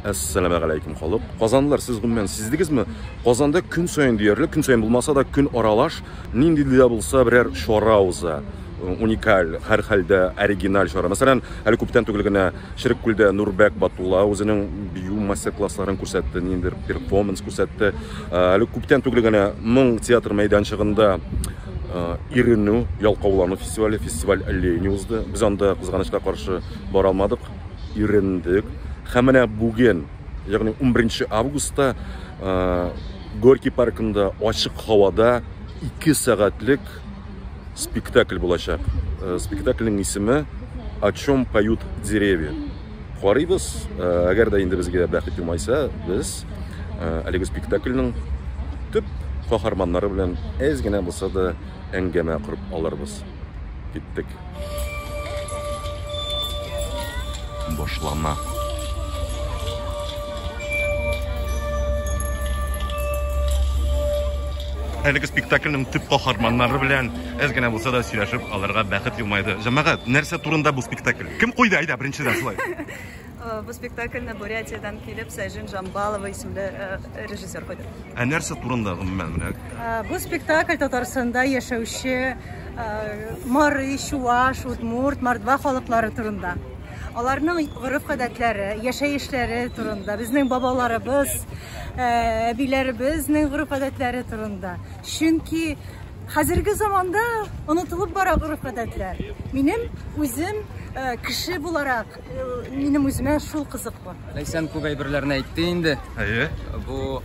Әссәламә галәйкүм халык. Казанлылар, сез гомумән сиздегезме? Казанда көн саен диярлек, көн саен булмаса да көн аралаш нинди дә булса берәр чара уза. Уникаль, һәр хәлдә оригиналь чара. Мәсәлән, әле күптән түгел генә Ширеккүлдә Нурбәк Батулла үзенең бию мастер-классларын күрсәтте, ниндер перформанс күрсәтте. Э, әле күптән түгел генә Моң театр мәйданчыгында Э, иренү ялкаулану фестивале фестиваль лени узды без анда кызганычка каршы бара алмадык өйрәндек. Һәм менә бүген, ягъни 11 августта Горький паркында ачык һавада 2 сәгатьлек спектакль булачак. Спектакльнең исеме О чем поют деревья. Карыйбыз, әгәр дә инде безгә бәхет юмайса, без әлеге спектакльнең төп каһарманнары белән әз генә булса да әңгәмә корып алырбыз. киттек. Башлана. Әлеге спектакльнең төп каһарманнары белән әз генә булса да сөйләшеп алырга бәхет елмайды. Җәмәгать, нәрсә турында бу спектакль? Кем куйды? Әйдә, беренчедән шулай. Э, бу спектакльне Бурятиядан килеп Сәҗин Жамбалова исемле э, режиссер куйды. Ә нәрсә турында гомумән менә? Э, бу спектакль Татарстанда яшәүче Мары, Чуваш, Удмурт, Мордва халыклары турында. Аларның гореф-гадәтләре, яшәешләре турында, безнең бабаларыбыз, әбиләребезнең гореф-гадәтләре турында. Чөнки хәзерге заманда онытылып бара гореф-гадәтләр. Минем үзем кеше буларак Минем үземә шул кызыклы. Ләйсән күп әйберләрне әйтте инде. Әйе. Бу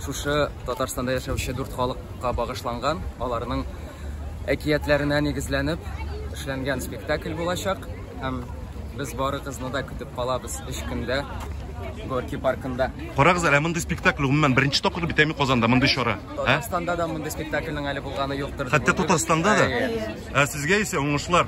шушы Татарстанда яшәүче дүрт халыкка багышланган, аларның әкиятләренә нигезләнеп эшләнгән спектакль булачак һәм без бары кызны да көтеп калабыз өч көндә горки паркында карагыз әле мондый спектакль гомумән беренче тапкыр бит әми казанда мондый чара татарстанда да мондый спектакльнең әле булганы юктыр хәтта татарстанда да ә сезгә исә уңышлар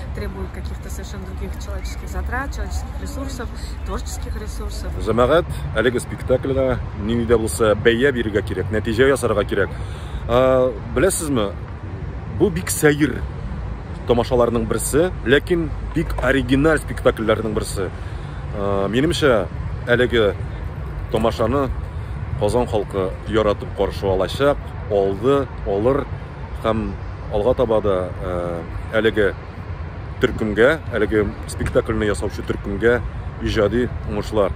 требует каких-то совершенно других человеческих затрат, человеческих ресурсов, творческих ресурсов. Җәмәгать, әлеге спектакльгә нинди дә булса бәя бирергә кирәк, нәтиҗә ясарга кирәк. Ә, беләсезме, бу бик сәер тамашаларның берсе, ләкин бик оригиналь спектакльләрнең берсе. Ә, минемчә, әлеге тамашаны Казан халкы яратып каршы алачак, алды, алыр. Һәм алга таба да әлеге төркемгә, әлеге спектакльне ясаучы төркемгә иҗади уңышлар.